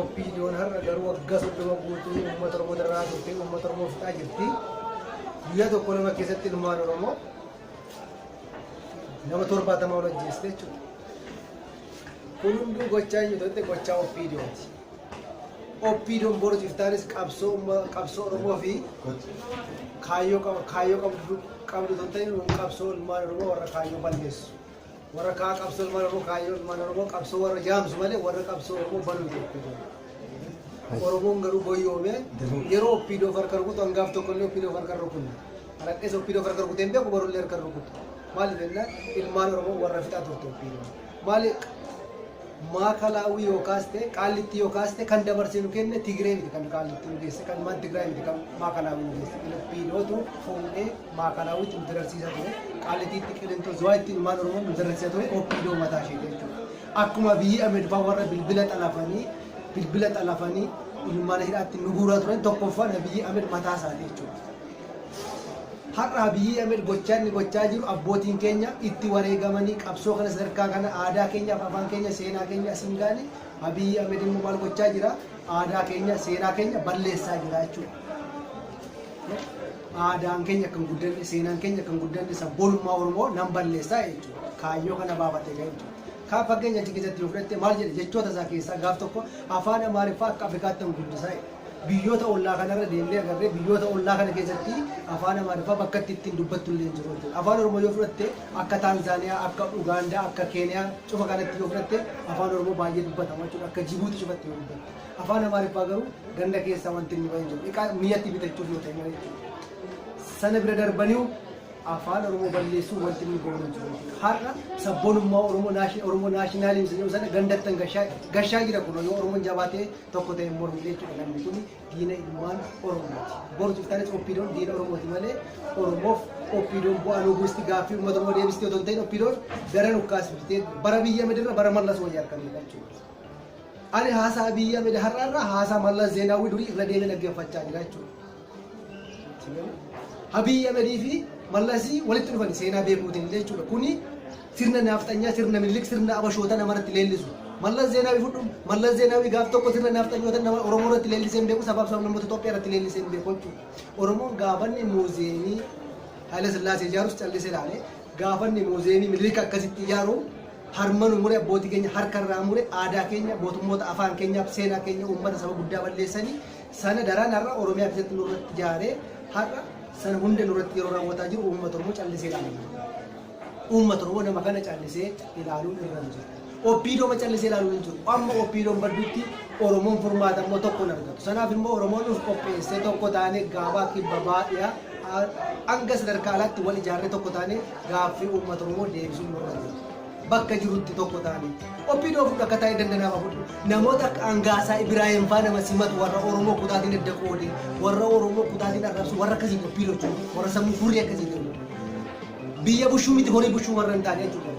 OPDOn har'a garuu waggaa soddoma guutuu uummata Oromoo dararaa turte, uummata Oromoo fixaa jirti. Guyyaa tokko lama keessatti ilmaan Oromoo nama torbaatamaa ol ajjeeste jechuudha. Kun hunduu gochaa hin jirtu gochaa OPDOti. OPDOn boru jirtaanis qabsoo umma- qabsoo Oromoo fi kaayyoo qab- kaayyoo qabdu qabdu tun ta'e qabsoo ilmaan Oromoo warra kaayyoo balleessu. Warra kaa qabsoo ilmaan Oromoo kaayyoo ilmaan Oromoo qabsoo warra jaamsu malee warra qabsoo Oromoo banuu jechuudha. Oromoon garuu boyyoomee yeroo oppiidoo farka rukutu hangaaf tokko illee oppiidoo farka rukunna. Alaqqees oppiidoo farka rukutee hin beeku barullee harka rukutu. Maaliif jennaan ilmaan Oromoo warra fixaa turte oppiidoo. Maaliif Maakalaawwii yoo kaaste, Qaallittii yoo kaaste kan dabarsee nu kenne Tigree miti kan Qaallitti nu geesse, kan ilmaan Tigraay miti kan Maakalaawwii nu geesse. Filipiinootu fuudhee Maakalaawwiitti nu dararsiisaa ture. Qaallitiitti, Qilintoo, Zuwaayitti ilmaan Oromoo nu dararsiisaa ture OPDO mataa isheeti jechuudha. Akkuma Abiyyii Ahmed fa'aa warra bilbila xalafanii bilbila xalafanii mana hidhaatti nu guuraa turan tokkoffaan Abiyyii Ahmed mataa isaati jechuudha. Har'a Abiyii Ahmed gochaa inni gochaa jiru abbootiin keenya itti wareegamanii qabsoo kana sadarkaa kana aadaa keenyaaf afaan keenya seenaa keenya asiin gaane Abiyii Ahmed immoo maal gochaa jira aadaa keenya seenaa keenya balleessaa jira jechuudha. Aadaan keenya kan guddanne seenaan keenya kan guddanne sabboonummaa Oromoo nan balleessaa jechuudha. Kaayyoo kana baafatee kan jechuudha. Kaan fakkeenya achi keessatti yoo fudhatte maal jedhe jechoota isaa keessaa gaaf tokko afaan Amaariffaa akka Afrikaatti hin guddisaa jedhe. Biyyoota ollaa kanarra deemnee agarree biyyoota ollaa kana keessatti afaan Amaariffaa bakka itti ittiin dubbattu illee hin jiru jechuudha. Afaan Oromoo yoo fudhatte akka Taanzaaniyaa, akka Ugaandaa, akka Keeniyaa cufa kanatti yoo fudhatte afaan Oromoo baay'ee dubbatama jechuudha. Akka Jibuuti cufatti yoo dubbatte. Afaan Amaariffaa garuu ganda keessaa wanti inni bahe hin jiru. Dhiqaa miyyatti bitachuuf yoo ta'e malee jechuudha. Sana bira darbaniu afaan Oromoo balleessuu wanti inni goone hin jiru jechuudha. Har'a sabboonummaa Oromoo naashinaaliimsi jedhamu sana gandattan gashaa jira kun yoo Oromoon jabaatee tokko ta'e mormu jechuudha namni kun diina ilmaan oromooti boru ciftaanis oppiidoon diina oromooti malee oromoof oppiidoon bu'aa loobuusti gaaffii uummata oromoo deebistee otoo hin ta'in oppiidoon gara nukkaasifte bara biyya midirra bara mallas wayya harkan jechuudha. Ani haasaa biyya midirra har'aarraa haasaa mallas zeenaawwii durii irra deemee dhaggeeffachaa jira jechuudha. Abiy Ahmed fi Mallasii walitti dhufan seenaa beekuutiin illee jechuudha. Kuni sirna naafxanyaa, sirna Minilik, sirna Abashoota nama irratti leellisu. Mallas Zeenaawii fudhuun, Mallas Zeenaawii gaaf tokko sirna naafxanyoota nama Oromoo irratti leellisee hin beeku, sabaaf sablammoota Itoophiyaa irratti leellisee hin beeku jechuudha. Oromoon gaafanni muuziyeemii Haayila Sillaasee ijaarus callisee ilaalee, gaafanni muuziyeemii Minilik akkasitti ijaaru harma nu mure abbootii keenya harka irraa mure aadaa keenya mootummoota afaan keenyaaf seenaa keenya uummata saba guddaa balleessanii Sana daraan har'a Oromiyaa keessatti nurratti jaaree har'a sana hunda nurratti yeroo raawwataa jiru uummata Oromoo callisee ilaalaa jiru. Uummata Oromoo nama kana callisee ilaaluun irra hin jiru. Oppiidooma callisee ilaaluun hin jiru. Amma oppiidoon baddutti Oromoon furmaata immoo tokko hin argatu. Sanaaf immoo Oromoon of qopheessee tokko taanee gaabaa kibba baadhiyaa hanga sadarkaa alaatti wal ijaarree tokko taanee gaaffii uummata Oromoo deebisuun nurra jira. bakka jirutti tokko taane opdo fudha akka taa'e danda nama fudhu namoota akka angaasaa ibiraahim faa nama simatu warra oromoo kutaatiin adda qoode warra oromoo kutaatiin arrabsu warra akkasii dubbii lochu warra sammuu furrii akkasii ta'u biyya bushuu miti horii bushuu warra hin taane jechuudha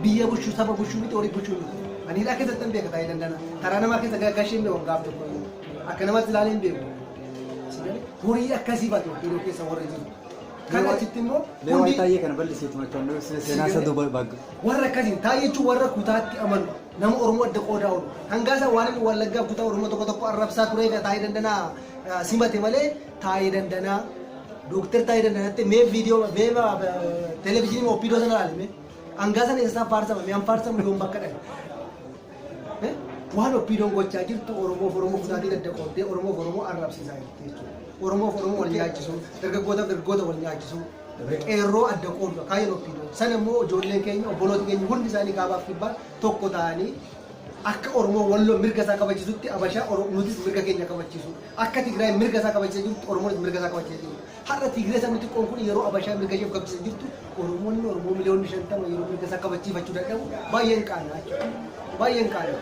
biyya bushuu saba bushuu miti horii bushuu miti ani hidhaa keessatti hin beeka taa'e dandana karaa namaa keessa gara gashee hin beeku gaaf tokko akka namatti ilaalee hin beeku horii akkasii baate opdo keessa warra jiru Mee Kana waay- achitti immoo Mee waa'ee hundi taayee kana bal'isiitu machoon nu ibsine seenaa isa duuba baagga. warra akkasiin taa'ee jechuun warra kutaatti amanu nama Oromoo adda qoodaa oolu. Hangaasaa waan inni wallaggaa kutaa Oromoo tokko tokko arrabsaa ture egaa taa'ee dandanaa eh, simate malee taa'ee dandanaa dooktar taa'ee dandanaatti mee viidiyoo mee televezyiinii opiidoo sana ilaalime hangaasaan eessasaa faarsamame an faarsamu yoon bakka dhabe. Waan oppiidoon gochaa jirtu Oromoof Oromoo kutaatii gadda qooddee Oromoof Oromoo arrabsiisaa jirti jechuudha. Oromoof Oromoo wal nyaachisuu, dargaggootaaf dargaggoota wal nyaachisuu, qeerroo adda qoodudha kaayyoon oppiidoo. Sana immoo ijoolleen keenya obboloota keenya hundi isaanii kaabaaf kibbaan tokko ta'anii akka Oromoo walloo mirga isaa kabachisutti Abashaa nutis mirga keenya kabachiisu. Akka Tigraay mirga isaa kabachisa jirtu Oromoonis mirga isaa kabachisa jirtu. Har'a Tigree sabni xiqqoon kun yeroo Abashaan mirga isheef gabbisa jirtu Oromoonni Oromoo miliyoonni shantama yeroo mirga isaa kabachiifachuu dadhabu baay'een qaanaa jechuudha. Baay'een qaanaa.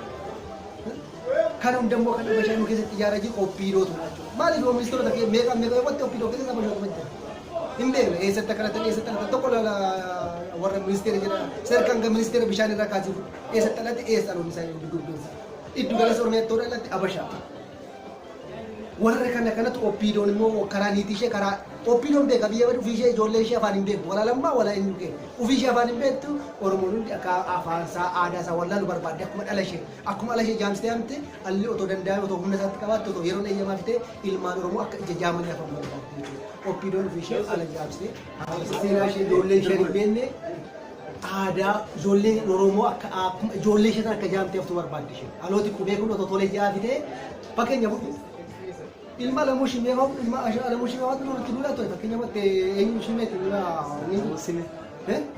Kan hundammoo kan Abashaan nu keessatti ijaaraa jiru OPDOtu dha jechuudha. Maaliif yoo ministeerota kee meeqaan meeqa yoo qotte OPDO keessatti Abashaan kuma jira. Hin beekne eessatti akka dhalatan eessatti dhalatan tokko lala warra ministeera jedha sadarkaa hanga ministeera bishaan irraa kaasee eessatti dhalate eessa dhaloonni isaa hin dubbeessa. Iddu galessa Oromiyaatti yoo dhalatte Abashaa. Warra kana kanatu oppiidoon immoo karaa niitii ishee karaa oppiidoon beeka biyya badu ofii ishee ijoollee ishee afaan hin beektu walaa lammaa walaa eenyu kee ofii ishee afaan hin beektu oromoon hundi akka afaan isaa aadaa isaa wallaalu barbaadde akkuma dhala ishee akkuma ala ishee jaamsitee hamte alli otoo danda'ame otoo humna isaatti qabaatte otoo yeroon eeyyamaa fitee ilmaan oromoo akka ija jaamanii afaan barbaadde jechuudha oppiidoon ofii ishee ala jaamsitee haala seenaa ishee ijoollee ishee hin beekne aadaa ijoolleen Oromoo akka akkuma ijoollee ishee sana akka jaamtee haftu barbaaddi isheen. Dhalooti qubee kun otoo tolee ji'aa fitee fakkeenya fudhu. Ilma Alamuu Shimee hoo ilma Alamuu Shimee hoo nurratti duulaa ture fakkeenya fudhatte eenyu Shimee ti ilma Alamuu Shimee.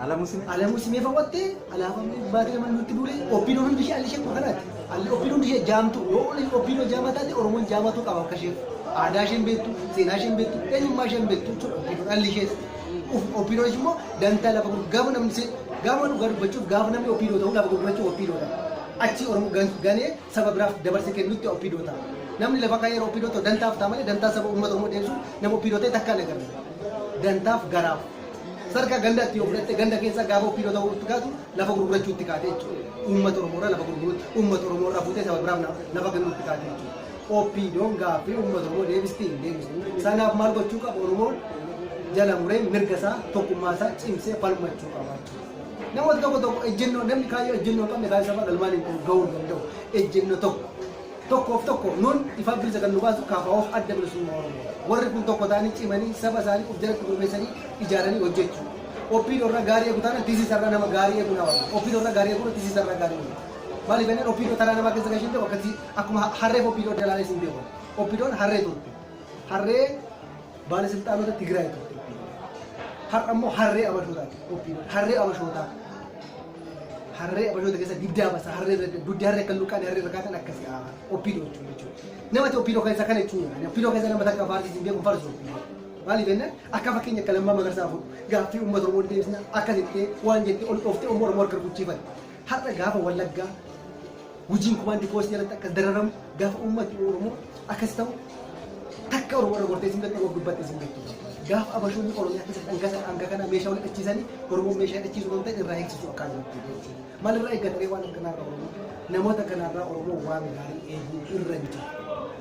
Alamuu Shimee. Alamuu Shimee fawwatte alaabaa baatee nama nurratti duulee oppiin hundi ishee alli ishee kuma kanaati. Alli oppiin hundi ishee jaamtu yoo oppiin hoo jaamaa taate Oromoon jaamatuu qaba akka ishee. Aadaa isheen beektu, seenaa isheen beektu, eenyummaa isheen beektu jechuudha oppiin alli ishees. Opdo jechuun immoo dantaa lafa gurguruu gaafa namni se- gaafa dhugaa dubbachuuf gaafa namni opdo ta'u lafa gurgurachuuf opdo ta'a. Achi Oromoo gan- ganee saba biraaf dabarse kennutti opdo ta'a. Namni lafa kaayee opdo ta'u dantaaf ta'a malee dantaa saba uummata Oromoo deebisuuf nama opdo ta'e takka hin agarre. Dantaaf garaaf. Sadarkaa ganda itti yoo fudhatte ganda keessa gaafa opdo ta'uu itti kaatu lafa gurgurachuutti kaate jechuudha. Uummata Oromoo irraa lafa gurguruutti uummata Oromoo irraa fuutee saba biraaf na- lafa kennuutti kaate jechuudha. OPDOn gaaffii uummata Oromoo deebistii hin deebistu. Sanaaf maal gochuu qaba Oromoon jala muree mirga isaa tokkummaa isaa cimsee falmachuu qaba. Namoota tokko tokko ejjennoo namni kaayyoo ejjennoo hin qabne kaayyoo sabaa galmaan hin qabu gahuu hin danda'u. Ejjennoo tokko tokkoof tokko nuun ifaa bilisa kan nu baasu kaafa'oof adda bilisummaa Oromoo. Warri kun tokko ta'anii cimanii saba isaanii of jalatti gurmeessanii ijaaranii hojjechuu. Oppiidoo irraa gaarii eegu taana tisiisa irraa nama gaarii eegu na wayya. Oppiidoo irraa gaarii eegu tisiisa irraa gaarii eegu. Maaliif jennaan oppiidoo taraa namaa keessa gashee hin qabu akkasii Akkuma harreef Opdo adda ilaalee isin beeku. Opdon harree turte. Harree baalasilxaanota Tigraay turte. Har'a immoo harree abashootaati. Opdo harree abashootaa. Harree abashoota keessa diddaa basa. Harree irra dugdi harree akka luqqaan harree irra kaatan akkasi Opdo jechuudha jechuudha. Namati Opdo keessa kana jechuudha. Opdo keessa nama takka faarsi isin beeku farsu. Maaliif jennaan akka fakkeenya akka lammaa magarsaa fuudhu gaaffii uummata Oromoo deebisna akka jettee waan jettee ol dhooftee Oromoo Oromoo harka rukuchiifan. Har'a gaafa Wallaggaa Gujiin kumaandi poostii jalatti akkas dararamu gaafa uummatni Oromoo akkas ta'u takka Oromoo irra gortee isin beektu gubbatte isin beektu. Gaafa abashoonni Oromiyaa keessa dhangasa hanga kana meeshaa wal dhachiisanii Oromoo meeshaa dhachiisuu kan ta'e irraa eegsisuu akkaan jirti. Maal irraa eeggatanii waan akkanaa irraa Oromoo namoota kanarraa Oromoo waan gaarii eeguu irra hin jiru.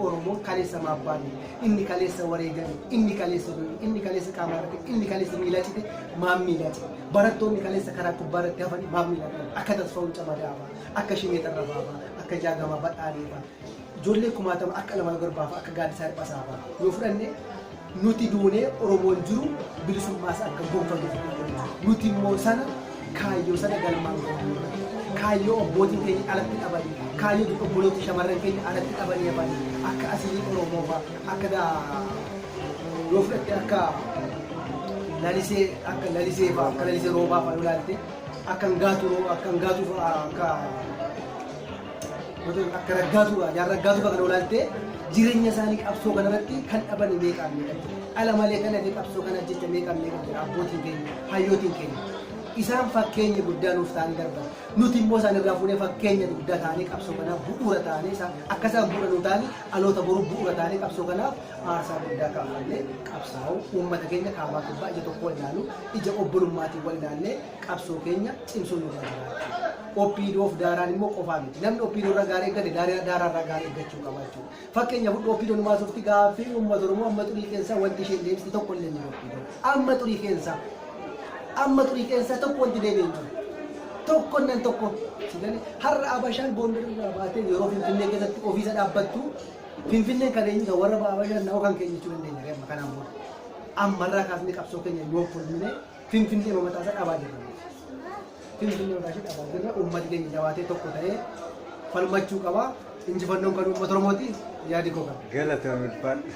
Oromoo kaleessa maabbaanii, inni kaleessa wareegame, inni kaleessa du'e, inni kaleessa qaama irratti, inni kaleessa miilaa cite, maaf miilaa cite. Barattoonni kaleessa karaa gubbaa irratti hafan maaf miilaa cite. Akka tasfaa'uun camadaa hafaa. Akka Shimee Xarrafaafaa, akka Jaagamaa Badhaaneefaa, ijoollee kumaatama akka Alamaayo Garbaafaa, akka Gaaddisaa Hirphasaafaa yoo fudhanne nuti duunee Oromoon jiru bilisummaas akka gonfatu fudhanna. Nuti immoo sana kaayyoo sana galmaan geenyudha. Kaayyoo abbootiin keenya alatti dhabanii, kaayyoo dudhu obboloota shamarran keenya alatti dhabanii hafanii akka asii Oromoofaa, akka daa- yoo fudhatte akka lalisee akka lalisee fa'aa akka lalisee roobaa fa'aa yoo ilaalte akkan gaatu akkan gaatu fa'a akka gosoota akka raggaatu fa'a jaarraa raggaatu fa'a kan olaaltee jireenya isaanii qabsoo kanarratti kan dhaban meeqaan meeqan ala malee kan hafe qabsoo kana jecha meeqaan meeqan jira abbootiin keenya hayyootiin keenya isaan fakkeenya guddaa nuuf ta'anii darban nuti immoo isaan irraa fuunee fakkeenya guddaa ta'anii qabsoo kanaaf bu'uura ta'anii isaan akka isaan bu'uura nuu ta'anii dhaloota boruuf bu'uura ta'anii qabsoo kanaaf Aarsaa guddaa kaffallee qabsaa'uu, uummata keenya kaabaa kibbaa ija tokkoon ilaaluu, ija obbolummaatiin wal ilaallee qabsoo keenya cimsuun nurra jiraata. OPDOf daaraan immoo qofaa miti. Namni OPDO irra gaarii eeggate daaraa daaraa irraa gaarii eeggachuu qaba jechuudha. Fakkeenyaaf hudhu OPDO nu baasufti gaaffii uummata Oromoo amma xurii keessaa wanti isheen deebiste tokko illee hin jiru OPDO. Amma xurii keessaa amma xurii keessaa tokko wanti deebi'e hin jiru. tokko nan tokko. Har'a Abashaan Gondar irraa baatee yeroo Finfinnee keessatti ofiisa dhaabbattu Finfinneen kan eenyu ta'a warra ba'aa baay'inaan na'oo kan keenya jechuu dandeenya ree amma kanaan booda. Ammarraa kaasnee qabsoo keenya yoo fulmine Finfinnee mataa isaa dhabaa jirra. Finfinnee mataa ishee dhabaa jirra uummati keenya jabaatee tokko ta'ee falmachuu qaba. Injifannoon kan uummata Oromooti yaadi koo kana. Galatoomi ulfaadhu.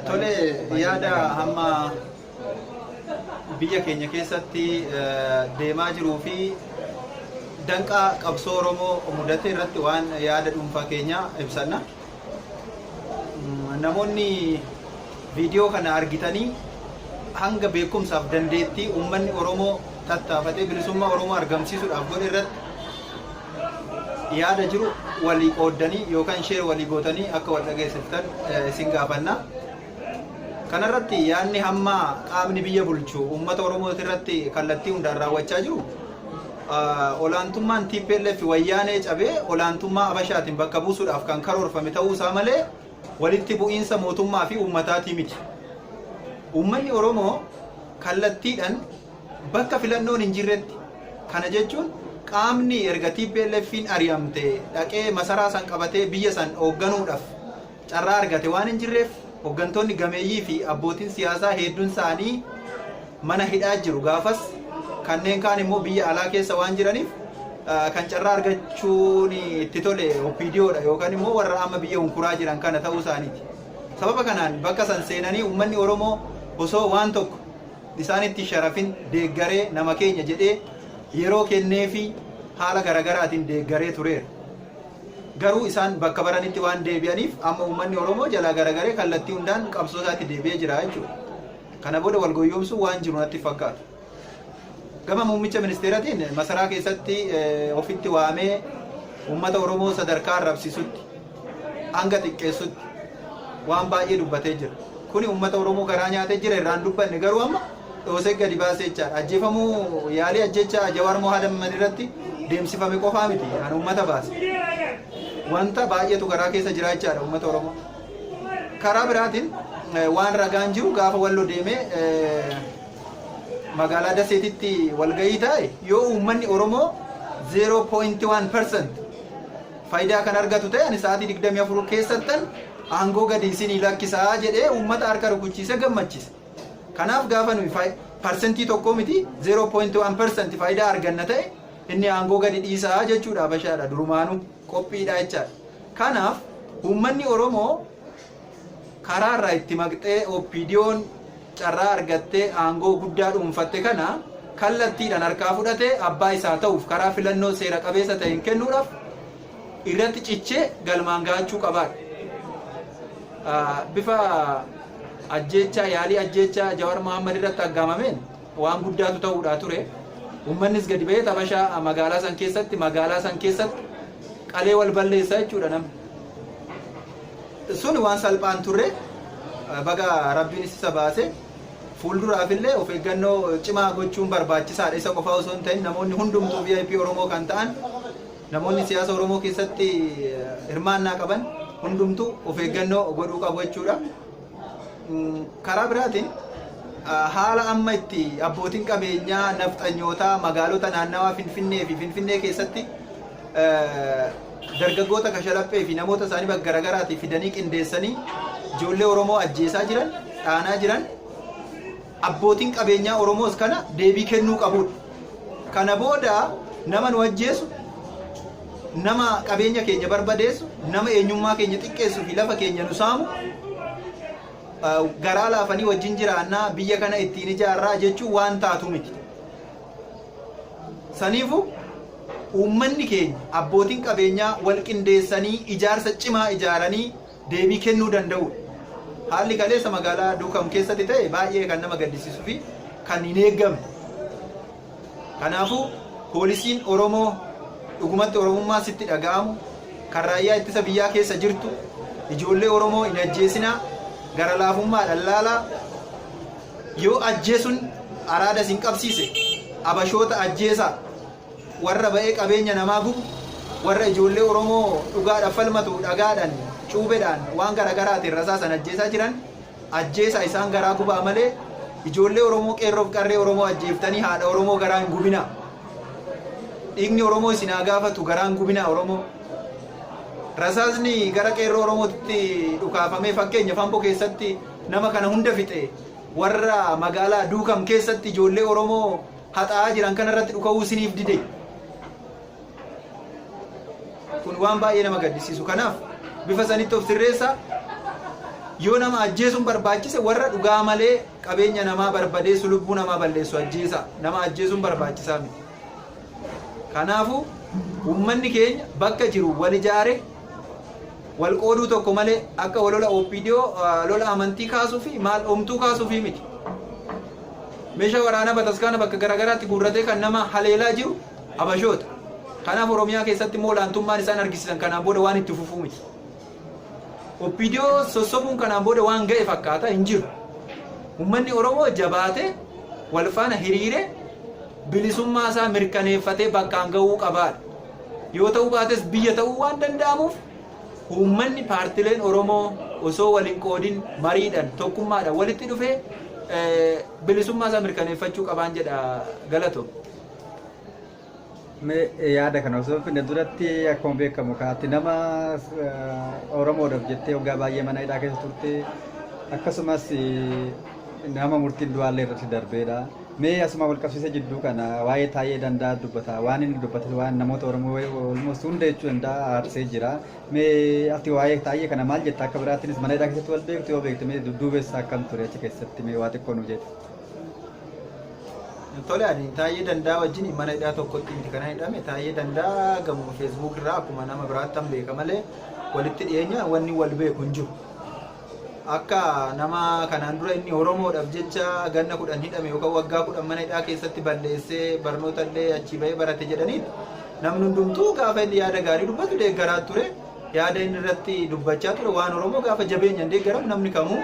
Tole yaada amma biyya keenya keessatti deemaa jiruu fi danqaa qabsoo Oromoo mudate irratti waan yaada dhuunfaa keenya ibsanna. Namoonni viidiyoo kana argitanii hanga beekumsaaf dandeettii uummanni Oromoo tattaafatee bilisummaa Oromoo argamsiisuudhaaf godhe irratti Yaada jiru walii qooddanii yookaan share walii gootanii akka wal dhageessiftan isin gaafanna. Kana irratti yaadni hamma qaamni biyya bulchu uummata Oromoo irratti kallattii hundaan raawwachaa jiru olaantummaan TPLF wayyaanee cabee olaantummaa Abashaatiin bakka buusuudhaaf kan karoorfame ta'uu isaa malee walitti bu'iinsa mootummaa fi uummataatii miti. Uummanni Oromoo kallattiidhaan Bakka filannoon hin jirretti, kana jechuun qaamni erga TPLFn ari'amte dhaqee masaraa san qabatee biyya san hoogganuudhaf carraa argate waan hin jirreef hoggantoonni gameeyyii fi abbootin siyaasaa heeddun isaanii mana hidhaa jiru gaafas kanneen kaan immoo biyya alaa keessa waan jiraniif kan carraa argachuun itti tole OPDO dha yookaan immoo warra amma biyya hunkuraa jiran kana ta'uu isaaniiti. Sababa kanaan bakka san seenanii uummanni Oromoo osoo waan tokko isaanitti sharafin deeggaree nama keenya jedhee yeroo kenneefii haala garagaraatiin deeggaree tureera. Garuu isaan bakka baranitti waan deebi'aniif amma uummanni Oromoo jalaa garagaree kallattii hundaan qabsoo isaatti deebi'ee jira jechuudha. Kana booda wal goyyoomsuu waan jiru natti fakkaatu. Gama muummicha ministeeratiin masaraa keessatti ofitti waamee uummata Oromoo sadarkaa arrabsisutti hanga xiqqeessutti waan baay'ee dubbatee jira. Kuni uummata Oromoo garaa nyaatee jira irraan dubbanne garuu amma dhoosee gadi baasee jechaadha. Ajjeefamuu yaalii ajjechaa Jawaar Mohaadamman irratti deemsifame qofaa miti kan uummata baase. Wanta baay'eetu garaa keessa jira jechaadha uummata Oromoo. Karaa biraatiin waan ragaan jiru gaafa wallo deemee magaalaa Daseetitti walgahii taa'e yoo uummanni Oromoo 0.1% fayidaa kan argatu ta'e ani sa'aatii 24 keessattan aangoo gadi isinii lakkisaa jedhee uummata harka rukuchiise gammachiise. Kanaaf gaafa nuyi fayi- parsentii tokkoo miti 0.1 persent faayidaa arganna ta'e inni aangoo gadi dhiisaa jechuudha bashaadha durumaanuu qophiidha jechaadha. Kanaaf uummanni Oromoo Karaa irraa itti maqxee OPDOn carraa argattee aangoo guddaa dhuunfatte kana kallattiidhaan harkaa fudhatee abbaa isaa ta'uuf karaa filannoo seera qabeessa ta'een kennuudhaaf irratti cichee galmaan gahachuu qabaadha. Bifa ajjeechaa yaalii ajjeechaa Jawaar Mohaammed irratti aggaamameen waan guddaatu ta'uudhaa ture. Uummannis gadi ba'ee xabashaa magaalaa san keessatti magaalaa san keessatti qalee wal balleessaa jechuudha namni. Sun waan salphaa hin turre. Baga Rabbiinis isa baase. Fuulduraaf illee of eeggannoo cimaa gochuun barbaachisaadha. Isa qofaa osoo hin ta'in namoonni hundumtuu VIP Oromoo kan ta'an namoonni siyaasa Oromoo keessatti hirmaannaa qaban hundumtuu of eeggannoo godhuu qabu jechuudha. Karaa biraatiin haala amma itti abbootiin qabeenyaa nafxanyootaa magaalota naannawaa Finfinnee fi Finfinnee keessatti dargaggoota kashalaphee fi namoota isaanii bakka garaagaraatii fidanii qindeessanii ijoollee Oromoo ajjeesaa jiran, dhaanaa jiran, abbootiin qabeenyaa Oromoos kana deebii kennuu qabudha. Kana booda nama nu ajjeesu, nama qabeenya keenya barbadeessu, nama eenyummaa keenya xiqqeessu fi lafa keenya nu saamu garaa laafanii wajjin jiraannaa biyya kana ittiin ijaarraa jechuun waan taatu miti. Saniifuu uummanni keenya, abbootiin qabeenyaa walqindeessanii ijaarsa cimaa ijaaranii deebii kennuu danda'uudha. Haalli kaleessa magaalaa Duukam keessatti ta'e baay'ee kan nama gaddisiisuu fi kan hin eegamne. Kanaafuu poolisiin Oromoo dhugumatti Oromummaan sitti dhaga'amu, kan raayyaa ittisa biyyaa keessa jirtu, ijoollee Oromoo hin ajjeesinaa, gara laafummaadhaan laalaa, Yoo ajjeesun araada isin qabsiise abashoota ajjeesaa, warra ba'ee qabeenya namaa gubu, warra ijoollee Oromoo dhugaadhaf falmatu dhagaadhan, cuubedhaan, waan garagaraatin rasaasan ajjeesaa jiran ajjeesaa isaan garaa gubaa malee ijoollee Oromoo qeerroof qarree Oromoo ajjeeftanii haadha Oromoo garaa hin gubinaa. Dhiigni Oromoo isin haa gaafatu garaa hin gubinaa Oromoo. Rasaasni gara qeerroo Oromootti dhukaafamee fakkeenyaf Ambo keessatti Nama kana hunda fixe warra magaalaa Duukam keessatti ijoollee Oromoo haxaa'aa jiran kana irratti dhuka'uu isiniif dide. Kun waan baay'ee nama gaddisiisu. Kanaaf bifa sanitti of sirreessaa yoo nama ajjeesuun barbaachise warra dhugaa malee qabeenya namaa barbadeessu lubbuu namaa balleessu ajjeesaa. Nama ajjeesuun barbaachisaa miti. Kanaafuu, uummanni keenya bakka jiru wal ijaaree, wal qooduu tokko malee akka walola OPDO lola amantii kaasuu fi maal omtuu kaasuufii miti. Meeshaa waraanaa bataskaana bakka garaagaraatti guurratee kan nama haleelaa jiru Habashoota. Kanaaf Oromiyaa keessatti immoo olaantummaan isaan argisiisan kanaan booda waan itti fufuu miti. Opdo sossobuun kanaan booda waan ga'e fakkaata hin jiru. Uummanni Oromoo jabaatee wal faana hiriiree bilisummaa isaa mirkaneeffatee bakkaan ga'uu qabaadha. Yoo ta'uu baates biyya ta'uu waan danda'amuuf uummanni paartileen Oromoo osoo wal hin qoodin mariidhaan tokkummaadhaan walitti dhufee bilisummaa isaa mirkaneeffachuu qabaan jedha galatoom. Mee yaada kana osoo hin finne duratti akkuma beekamu ka ati nama eh, Oromoodhaaf jettee waggaa baay'ee mana hidhaa keessa turte akkasumas eh, nama murtiin du'aallee irratti darbeedha. Mee asuma wal qabsiisee jidduu kana waa'ee taa'ee danda'a dubbata. Waan inni dubbate waan namoota Oromoo olmoos hunda jechuu danda'a aarsee jira. Mee ati waa'ee taa'ee kana maal jetta akka biraattinis mana hidhaa keessatti wal beektu yoo beektu mee dudduubeessa akkam ture achi keessatti mee waa xiqqoo nu jedhe. Tole ani Taayyee Dandaa wajjin mana hidhaa tokkotti miti kana hidhame Taayyee Dandaa gamoo feesbuuk irraa akkuma nama biraattan beeka malee walitti dhiyeenya wanni wal beeku hin jiru. Akka nama kanaan dura inni Oromoodhaaf jecha ganna kudhan hidhame yookaan waggaa kudhan mana hidhaa keessatti balleessee barnoota illee achii bahee barate jedhaniitti namni hundumtuu gaafa inni yaada gaarii dubbatu deeggaraa ture. Yaada inni irratti dubbachaa ture waan Oromoo gaafa jabeenyaan deeggaramu namni kamuu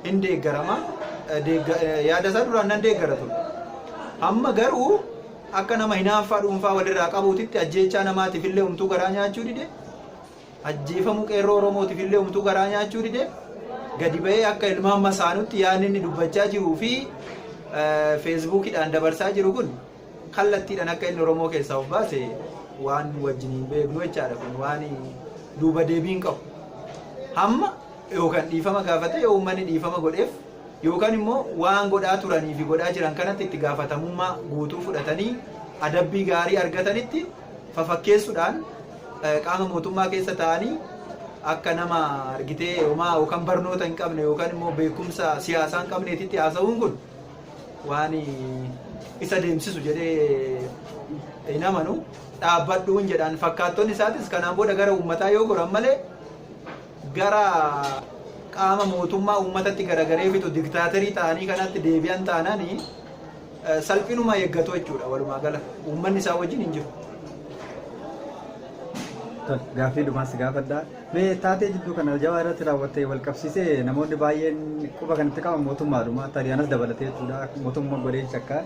hin deeggarama. Deegga- eh, Yaada isaa duraan nan deeggara ture. Amma garuu akka nama hinaaffaa dhuunfaa walirraa qabuutitti ajjeechaa namaatiif illee umtuu garaa nyaachuu dide. Ajjeefamuu qeerroo Oromootiif illee umtuu garaa nyaachuu dide. Gadi ba'ee akka ilmaan masaanutti yaadni inni dubbachaa jiruu fi eh, feesbuukidhaan dabarsaa jiru kun kallattiidhan akka inni Oromoo keessaa of baase waan wajjin hin beeknu jechaadha kun waan duuba deebii hin qabu. Hamma yookaan dhiifama gaafate yoo uummanni dhiifama godheef yookaan immoo waan godhaa turanii fi godhaa jiran kanatti itti gaafatamummaa guutuu fudhatanii adabbii gaarii argatanitti fafakkeessuudhaan qaama mootummaa keessa ta'anii akka nama argitee homaa yookaan barnoota hin qabne yookaan immoo beekumsa siyaasaa hin qabneetitti haasa'uun kun waan isa deemsisu jedhee hin amanu dhaabbadhuun jedhaan fakkaattonni isaatis kanaan booda gara uummataa yoo goran malee gara qaama mootummaa uummatatti garagaree bitu diktaaterii ta'anii kanatti deebi'an taananii eh, salphinuma eeggatu jechuudha walumaa gala uummanni isaa wajjin hin jiru. Tole, Gaaffii dhumaas gaafadhaa. Mee taatee jidduu kana Aljawaa irratti raawwatte wal qabsiisee namoonni baay'een quba kan itti qaban mootummaadhuma Xaaliyanas dabalatee jechuudha mootummaa godheen shakka.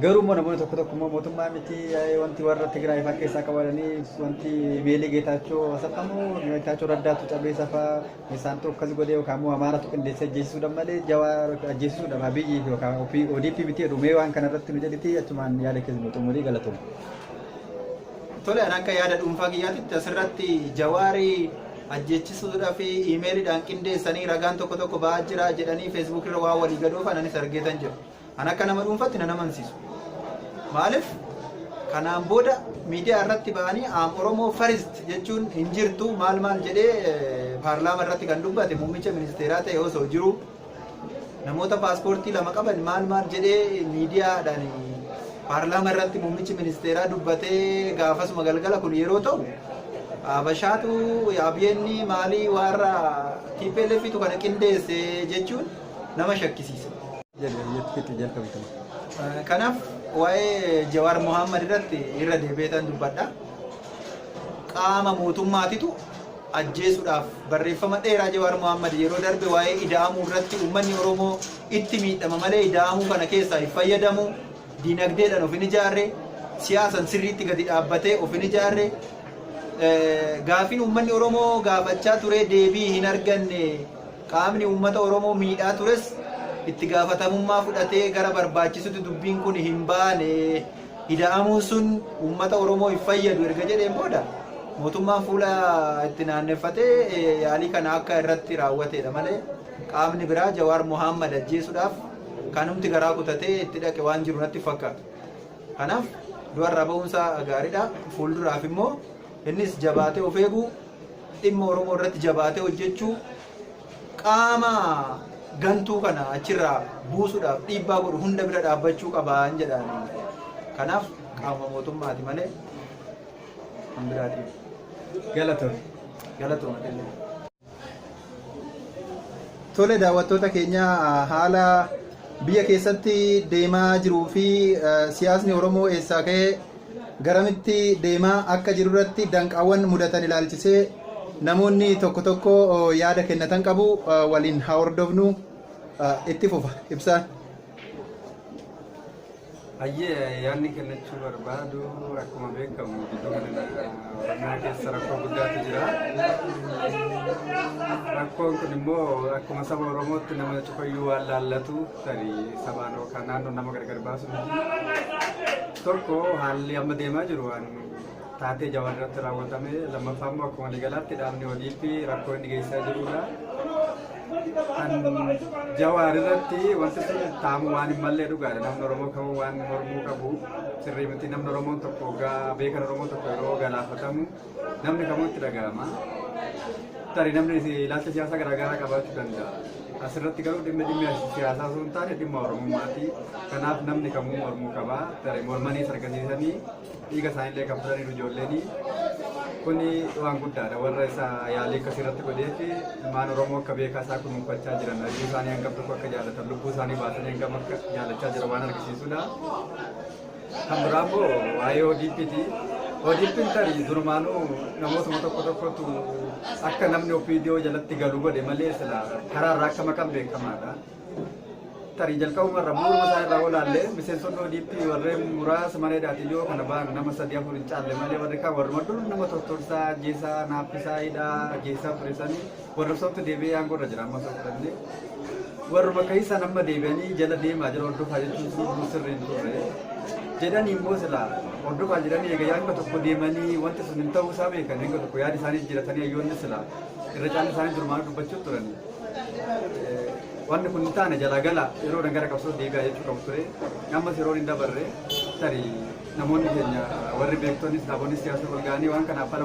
Garuu immoo namoonni tokko tokko immoo mootummaa miti wanti warra Tigraay fa'aa keessaa qabatanii wanti meelii geetaachoo hasafamu geetaachoo raddaatu cabee safaa isaantu akkas godhee yookaan immoo amaaratu qindeessee ajjeesisuudhaan malee jawaa ajjeesisuudhaan abiyyi yookaan ODP miti jedhu mee waan kanarratti nu jedhiti achumaan yaada keessa nu xumurii galatoomna. Tole an akka yaada dhuunfaa kiyyaatitti asirratti jawaari ajjeechisuudhaaf iimeelidhaan qindeessanii ragaan tokko tokko ba'aa jira jedhanii feesbuuk irra waan walii gadoofan anis argeetan jira. An akka nama dhuunfatti nan amansiisu. Maaliif kanaan booda miidiyaa irratti ba'anii aam Oromoo farist jechuun hin jirtu maal maal jedhee paarlaama irratti kan dubbate muummicha ministeeraa ta'e osoo jiru. Namoota paaspoortii lama qaban maal maal jedhee miidiyaadhaan paarlaamaa irratti muummichi ministeeraa dubbatee gaafasuma galgala kun yeroo ta'u Habashaatu Abiyeenni maalii warra TPLFitu kana qindeesse jechuun nama shakkisiisa. Kanaaf waa'ee Jawaar Mohaammed irratti irra deebi'eetan dubbadha. Qaama mootummaatitu ajjeesuudhaaf barreeffama dheeraa Jawaar Mohaammad yeroo darbe waa'ee ida'amuu irratti uummanni Oromoo itti miidhama malee ida'amuu kana keessaa hin fayyadamu, diinagdeedhaan of hin ijaarre, siyaasan sirriitti gadi dhaabbatee of hin ijaarre, gaaffiin uummanni Oromoo gaafachaa ture deebii hin arganne, qaamni uummata Oromoo miidhaa tures itti gaafatamummaa fudhatee gara barbaachisutti dubbiin kun hin baane. Ida'amuun sun uummata Oromoo hin fayyadu erga jedheen booda mootummaan fuula itti naanneffatee yaalii kana akka irratti raawwateedha malee qaamni biraa Jawaar Mohaammad ajjeesuudhaaf kanumti garaa kutatee itti dhaqe waan jiru natti fakkaatu. Kanaaf du'arraa ba'uunsaa gaariidha. Fuulduraaf immoo innis jabaatee of eeguu dhimma Oromoo irratti jabaatee hojjechuu qaama gantuu kana achirraa buusuudhaaf dhiibbaa godhu hunda bira dhaabbachuu qabaan jedhaan. Kanaaf qaama mootummaati malee kan biraatiif. Galatoon. Galatoon adeemee. Tole daawwattoota keenya haala biyya keessatti deemaa jiruu fi siyaasni Oromoo eessaa ka'ee Garamitti deemaa akka jirurratti danqaawwan mudatan ilaalchisee namoonni tokko tokko yaada kennatan qabu. Waliin haa hordofnu. Itti fufa. Ibsaa. Hayyee yaadni kennachuu barbaadu akkuma beekamu gidduu kana Oromiyaa keessa rakkoo guddaatu jira. Rakkoon kun immoo akkuma saba Oromootti nama cufayyuu waan laallatu tarii sabaan yookaan naannoon nama gargar baasu miti. Tokko haalli amma deemaa jiru waan taatee jawaan irratti raawwatame lammaffaa immoo akkuma waliigalaatti dhaabni ODP rakkoo inni geessaa jirudha. Kan jawaar irratti wanti sun taamu waan hin mallee dhugaadha namni Oromoo kamuu waan mormuu qabu sirrii miti namni Oromoon tokko gaa beekan Oromoo tokko yeroo galaafatamu Namni kamuu itti dhaga'ama. Tarii namni ilaalcha siyaasaa garaagaraa qabaachuu danda'a. Asirratti garuu dhimmi dhimmi siyaasaa osoo hin taane dhimma Oromummaati. Kanaaf namni kamuu mormuu qaba. Tarii mormanii sargasiisanii dhiiga isaaniillee kan fudhaniiru ijoolleen. Kuni waan guddaadha. Warra isa yaalii akkasii irratti godhee fi ilmaan Oromoo akka beekaa isaa kunuunfachaa jiran hojii isaanii hangam tokko akka jaalatan lubbuu isaanii baasanii hangam akka jaalachaa jiran waan argisiisudha. Kan biraa immoo waa'ee ODPti. ODPn tarii durumaanuu namootuma tokko tokkotu akka namni OPDO jalatti galu godhe malee sila karaa irraa akka maqan beekamaadha. Tarii jalqabuma irra bu'uuruma isaa irraa olaallee miseensonni ODP warreen muraasa mana hidhaatiin yoo kana ba'an nama sadii afur hin caalle malee warri kaan warruma dur nama tortorsaa, ajjeesaa, naaffisaa, hidhaa, ajjeesaa turisanii Warra sooftu deebi'ee aangoo irra jira amma sooftu dhabne. Warruma keessaan amma deebi'anii jala deemaa jira hordofaa jechuun sun sirrii hin turre. Jedhanii immoo silaa hordofaa jiranii egaa hanga tokko deemanii wanti sun hin ta'uu isaa beekan hanga tokko yaada isaanii jijjiiratanii hayyoonni silaa irra caalli isaanii durmaan dubbachuu turanii. Wanti kun hin taane jalaa gala yeroo dhan gara qabsoo deebi'aa jechuu qabu ture. Ammas yeroo hin dabarre tarii namoonni keenya warri beektonis dhaabonni siyaasa wal ga'anii waan kanaaf fala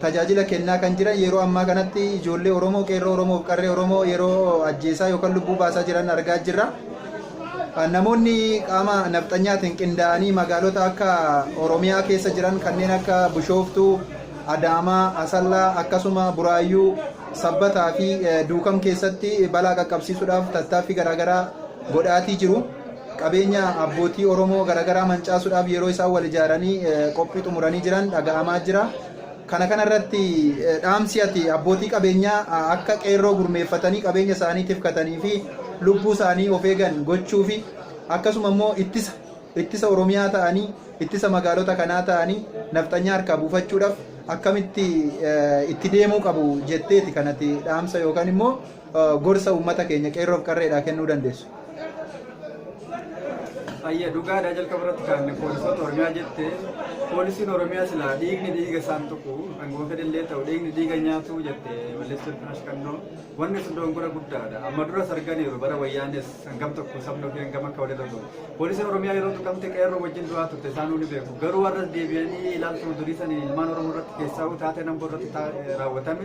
tajaajila kennaa kan jiran yeroo ammaa kanatti ijoollee Oromoo, qeerroo Oromoo fi qarree Oromoo yeroo ajjeesaa yookaan lubbuu baasaa jiran argaa jirra. Namoonni qaama nafxanyaatiin qindaa'anii magaalota akka Oromiyaa keessa jiran kanneen akka Bushooftuu, Adaamaa, Asallaa akkasuma Buraayyuu, Sabbataa fi Duukam keessatti balaa qaqqabsiisuudhaaf tattaaffii garaagaraa godhaatii jiru. Qabeenya abbootii Oromoo garagaraa mancaasuudhaaf yeroo isaan wal ijaaranii qophii xumuranii jiran dhaga'amaa jira. Kana kana irratti dhaamsi ati abbootii qabeenyaa akka qeerroo gurmeeffatanii qabeenya isaanii tifkatanii fi lubbuu isaanii of eegan gochuu fi akkasuma immoo ittisa ittisa Oromiyaa ta'anii ittisa magaalota kanaa ta'anii nafxanyaa harkaa buufachuudhaaf akkamitti itti deemuu qabu jetteeti kanati dhaamsa yookaan immoo gorsa uummata keenya qeerroof qarreedhaa kennuu dandeessu? Ayya dhugaadha jalqaba irratti kan poolisoota Oromiyaa jette poolisiin Oromiyaa silaa dhiigni dhiiga isaan tuqu angoo fedhallee ta'u dhiigni dhiiga nyaatu jette malleessa firash kannoo wanni sun dongora guddaadha amma duras arganiiru bara wayyaanis hangam tokko sabni ofii hangam akka walirra ta'u poolisiin Oromiyaa yeroo tuqamte qeerroo wajjin du'aa turte isaan ni beeku garuu warras deebi'anii ilaaltuu durii sanii ilmaan Oromoo irratti keessaa taatee namboo irratti raawwatame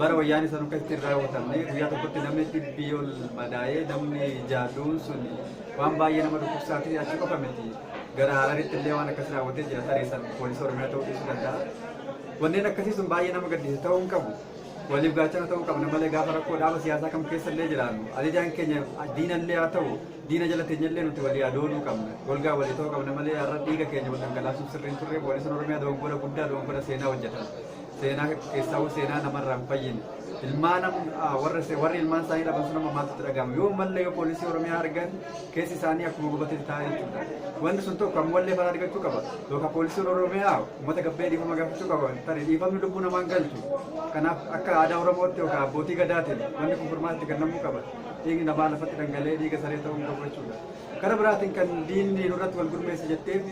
Bara wayyaanee san akka itti hin raawwatamne guyyaa tokkotti namni dhibbii ol madaa'ee namni jaaduun sun waan baay'ee nama dhukkubsaa fi achi qofa miti. Gara Hararitti illee waan akkas raawwatee jira tareessan poolisii Oromiyaa ta'uu dhiisuu danda'a. Wanneen akkasii sun baay'ee nama gaddisiisa ta'uu hin qabu. Waliif gaachana ta'uu qabna malee gaafa rakkoo dhaaba siyaasaa kam keessa illee jiraannu ajajaan keenya diina illee haa ta'u diina jala teenya illee nuti walii adooluu qabna. Golgaa walii ta'uu qabna malee har'a dhiiga keenya wal dhangalaasuun sirriin turre poolisiin Oromiyaa dogoggora guddaa dogoggora seenaa hojjetan. Seenaa keessaawuu seenaa namarraa hin fayyine. Ilmaan warri ilmaan isaanii dhaban sun amma maaltu itti dhaga'ama? Yoo ammallee yoo poolisii Oromiyaa argan keessi isaanii akkuma gubatetti taa'ee jechuudha. Wanti sun tokko ammallee fala argachuu qaba. Yookaan poolisiin Oromiyaa uummata gabbee dhiifama gaafachuu qaba. Tarii dhiifamni lubbuu namaan galchu. Kanaaf akka aadaa Oromootti yookaan abbootii gadaatiin wanti kun furmaatti kennamuu qaba. Dhiigni namaa lafatti dhangala'ee dhiiga saree ta'uu hin qabu jechuudha. Gara biraatiin kan diinni nurratti wal gurmeesse jetteef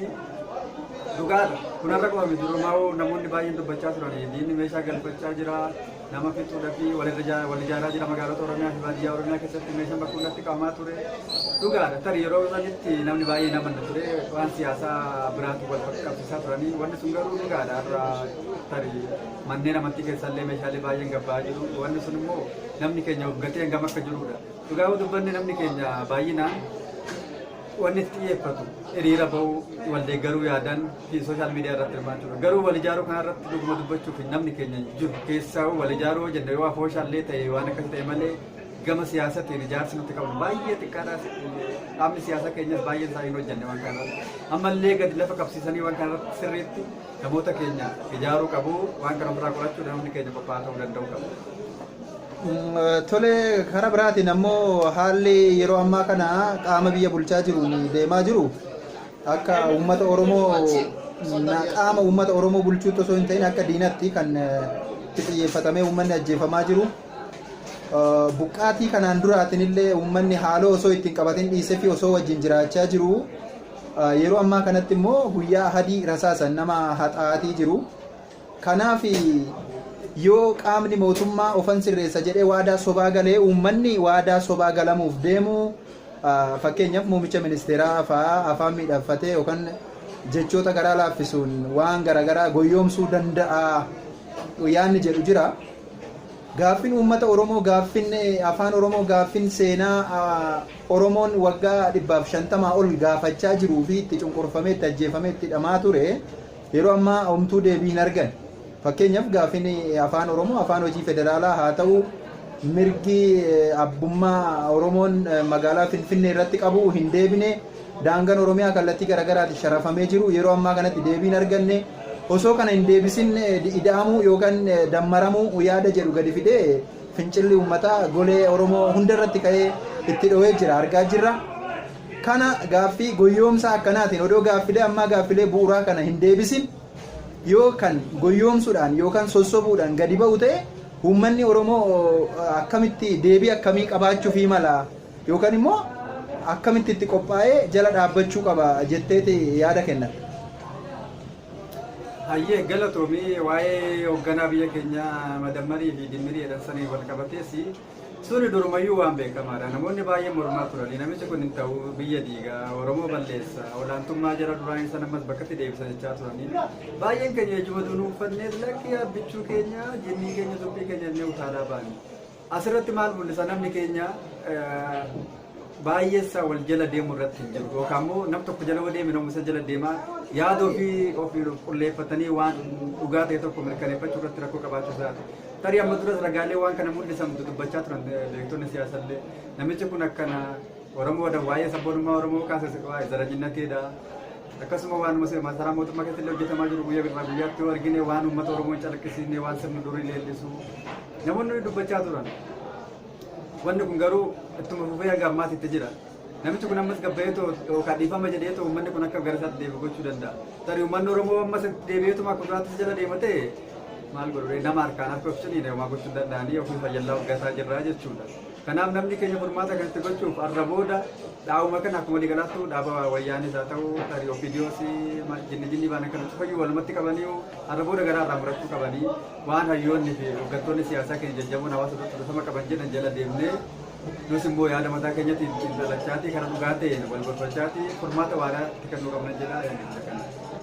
dhugaadha. Kun har'a qofa miti durumaa'uu namoonni baay'een dubbachaa turan diinni meeshaa galfachaa jira nama fixuudhaa fi wal ijaaraa jira magaalota Oromiyaa fi baadiyyaa Oromiyaa keessatti meeshaan bakka hundatti qabamaa ture. Dhugaadha tarii yeroo sanitti namni baay'een amanna ture waan siyaasaa biraatu wal qabsiisaa turanii wanni sun garuu dhugaadha har'a tarii manneen amantii keessallee meeshaalee baay'een gabbaa jiru wanni sun immoo namni keenya hoggatee hangam akka jirudha. Dhugaa yoo dubbanne namni keenya baay'inaan wanni itti xiyyeeffatu hiriira ba'uu wal deeggaruu yaadan fi sooshaal miidiyaa irratti hirmaachuudha. Garuu wal ijaaruu kana irratti dhuguma dubbachuuf namni keenya hin jiru. Keessaa wal ijaaruu yoo jenne yoo afooshaallee ta'e waan akkas ta'e malee gama siyaasatiin ijaarsi nuti qabnu baay'ee xiqqaadha. Dhaabni siyaasaa keenyas baay'een isaa hin hojjenne waan kana irratti. Ammallee gadi lafa qabsiisanii waan kana irratti sirriitti namoota keenya ijaaruu qabu waan kana ofirraa qorachuudha namni keenya qophaa'aa ta'uu danda'u qabu. Tole, karaa biraatiin ammoo haalli yeroo ammaa kana qaama biyya bulchaa jiruun deemaa jiru akka uummata Oromoo na- qaama uummata Oromoo bulchuutti osoo hin ta'in akka diinatti kan eh, itti xiyyeeffatamee uummanni ajjeefamaa jiru. Eh, Buqqaatii kanaan duraatiin illee uummanni haaloo osoo ittiin qabatin dhiisee fi osoo wajjin jiraachaa jiru. Eh, Yeroo ammaa kanatti immoo guyyaa ahadii rasaasan nama haxaa'atii jiru. Kanaaf yoo qaamni mootummaa ofan sirreessa jedhee waadaa sobaa galee uummanni waadaa sobaa galamuuf deemu fakkeenyaaf muumicha ministeeraa fa'aa afaan miidhagfatee yookaan jechoota garaa laaffisuun waan garaagaraa goyyoomsuu danda'a yaanni jedhu jira. Gaaffin uummata Oromoo gaaffin afaan Oromoo gaaffin seenaa Oromoon waggaa dhibbaaf shantamaa ol gaafachaa jiruu fi itti cunqurfamee itti ajjeefamee itti dhamaa ture Yeroo ammaa homtuu deebii hin argane. Fakkeenyaf gaafin Afaan Oromoo afaan hojii federaalaa haa ta'uu mirgi abbummaa Oromoon magaalaa Finfinnee irratti qabu hin deebine, daangan Oromiyaa kallattii garagaraatin sharafamee jiru yeroo ammaa kanatti deebii hin arganne. Osoo kana hin deebisin ida'amuu yookan dammaramuu yaada jedhu gadi fidee fincilli uummataa golee Oromoo hunda irratti ka'ee itti dhowee jira argaa jirra. Kana gaaffii goyyoomsaa akkanaatiin odoo gaaffilee ammaa gaaffilee bu'uraa kana hin deebisin yoo kan goyyoomsuudhaan yookaan sossobuudhaan gadi ba'u ta'e uummanni Oromoo akkamitti deebii akkamii qabaachuufii mala yookaan immoo akkamitti itti qophaa'ee jala dhaabbachuu qaba jetteeti yaada kennatta? Hayyee galatoomi waa'ee hogganaa biyya keenyaa Madammarii fi Dimmirii jedhan saniin wal qabatees Suni durumayyuu waan beekamaadha. Namoonni baay'een mormaa turanii namichi kun hin ta'u biyya diiga Oromoo balleessa olaantummaa jara duraa isa ammas bakkatti deebisa jechaa turanii baay'een keenya ejjuma duunuu uffannee lakkii abbichuu keenya jinnii keenya suphii keenya illee utaalaa baane. Asirratti maal mul'isa namni keenya baay'eessa wal jala deemu irratti hin jiru yookaan immoo nam tokko jala yoo deeme namu isa jala deema yaada ofii ofii qulleeffatanii waan dhugaa ta'e tokko mirkaneeffachuu irratti rakkoo qabaachuu isaati. Tarii amma duras ragaalee waan kana mul'isan dubbachaa turan beektonni siyaasaa illee namichi kun akkana Oromoodha waa'ee sabboonummaa Oromoo kaasa waa'ee zaranyinnateedha. Akkasuma waan masaraa mootummaa keessatti illee hojjetamaa jiru guyyaa birraa guyyaatti yoo argine waan uummata Oromoo hin calaqqisiisne waan sirni durii leellisu namoonni dubbachaa turan. Wanni kun garuu ittuma fufee hanga ammaatti itti jira. Namichi kun ammas gabbayee too yookaan dhiifama jedhee too uummanni kun akka gara isaatti deebi'u gochuu danda'a. Tarii uummanni Oromoo ammas deebi'eetuma akka duraatti jala deema ta'e maal godhuree nama harkaan harka of ciniine homaa gochuu hin danda'anii ofii fayyallaa hoggataa jirraa jechuudha. Kanaaf namni keenya furmaata kanatti gochuuf har'a booda dhaabuma kana akkuma waliigalaattuu dhaaba wayyaanis haa ta'u tarii ofiidiyoos jinni jinni baana kana cufayyuu walumatti qabanii har'a booda garaa irraa murachuu qabanii Waan hayyoonni fi hoggantoonni siyaasaa keenya jajjaboon hawaasa duratti dhufama qaban jedhan jala deemnee nus immoo yaada mataa keenyatti xiinxalachaatii karaa dhugaa ta'een wal gorfachaatii furmaata waaraa itti kennuu qabna jedha yaadicha kana.